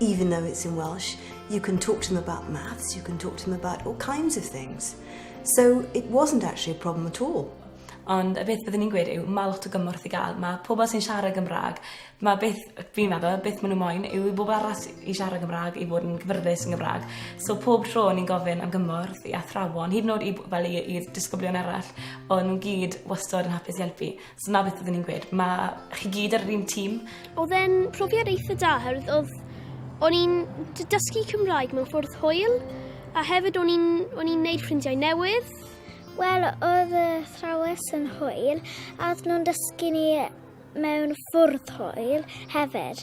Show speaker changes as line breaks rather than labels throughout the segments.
even though it's in Welsh, you can talk to them about maths, you can talk to them about all kinds of things. So it wasn't actually a problem at all. Ond y beth
byddwn ni'n gweud yw, mae lot o gymorth i gael. Mae pobl sy'n siarad Gymraeg, mae beth, fi'n meddwl, beth maen nhw moyn yw i bobl arall i siarad Gymraeg, i fod yn gyfyrddus yn Gymraeg. So pob tro ni'n gofyn am gymorth i athrawon, hyd yn oed i, fel i, i disgyblion arall, ond nhw'n gyd wastod yn hapus i helpu. So 'na beth oedden ni'n gweud, ma' chi gyd ar yr un tîm. Oedd e'n
profiad eitha da oherwydd oedd o'n i'n dysgu Cymraeg mewn ffwrdd hwyl a hefyd o'n i'n o'n i'n neud ffrindiau newydd. Wel,
oedd y thrawes yn hwyl a oedd nhw'n dysgu ni mewn ffwrdd hwyl hefyd.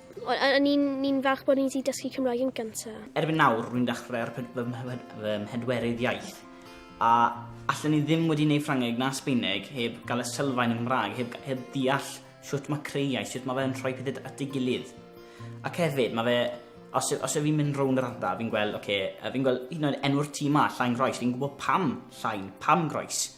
O'n i'n falch bod ni wedi dysgu Cymraeg yn gyntaf. Erbyn nawr, rwy'n
dechrau ar fy mhedwerydd iaith, a allen i ddim wedi gwneud Ffrangeg na Sbaeneg heb gael y sylfaen yng Nghymraeg, heb, heb deall shwt mae creu iaith, shwt mae fe'n rhoi pethau at ei gilydd. Ac hefyd, mae fe, os, os ydw i'n mynd rownd yr ardal, fi'n gweld, oce, okay, fi'n gweld hyd yn oed enw'r tîm ma, Llain Groes, fi'n gwybod pam Llain, pam Groes.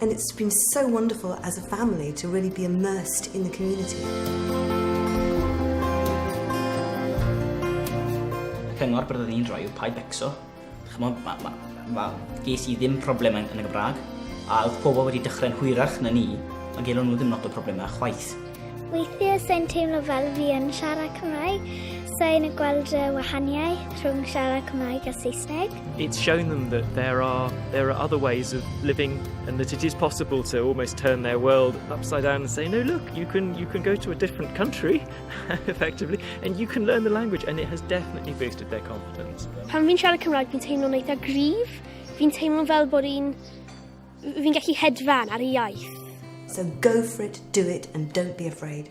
And it's been so wonderful as a family to really be immersed in the community.
Y cyngor byddwn ni'n rhoi yw paid becso. Chymod, ma, ma, ma, ges i ddim problemau yn y Gymraeg, a oedd pobl wedi dechrau'n hwyrach na ni, a gelon nhw ddim lot o problemau chwaith. Weithiau
sa'n teimlo fel fi yn siarad Cymraeg. Sa'n gweld y wahaniaeth rhwng siarad Cymraeg a Saesneg. It's shown them
that there are, there are other ways of living and that it is possible to almost turn their world upside down and say, no, look, you can, you can go to a different country, effectively, and you can learn the language. And it has definitely boosted their confidence. Pan fi'n siarad Cymraeg,
fi'n teimlo'n eitha grif. Fi'n teimlo fel bod i'n
Fi'n
gallu
hedfan ar
y
iaith. So go
for
it, do it
and
don't be
afraid.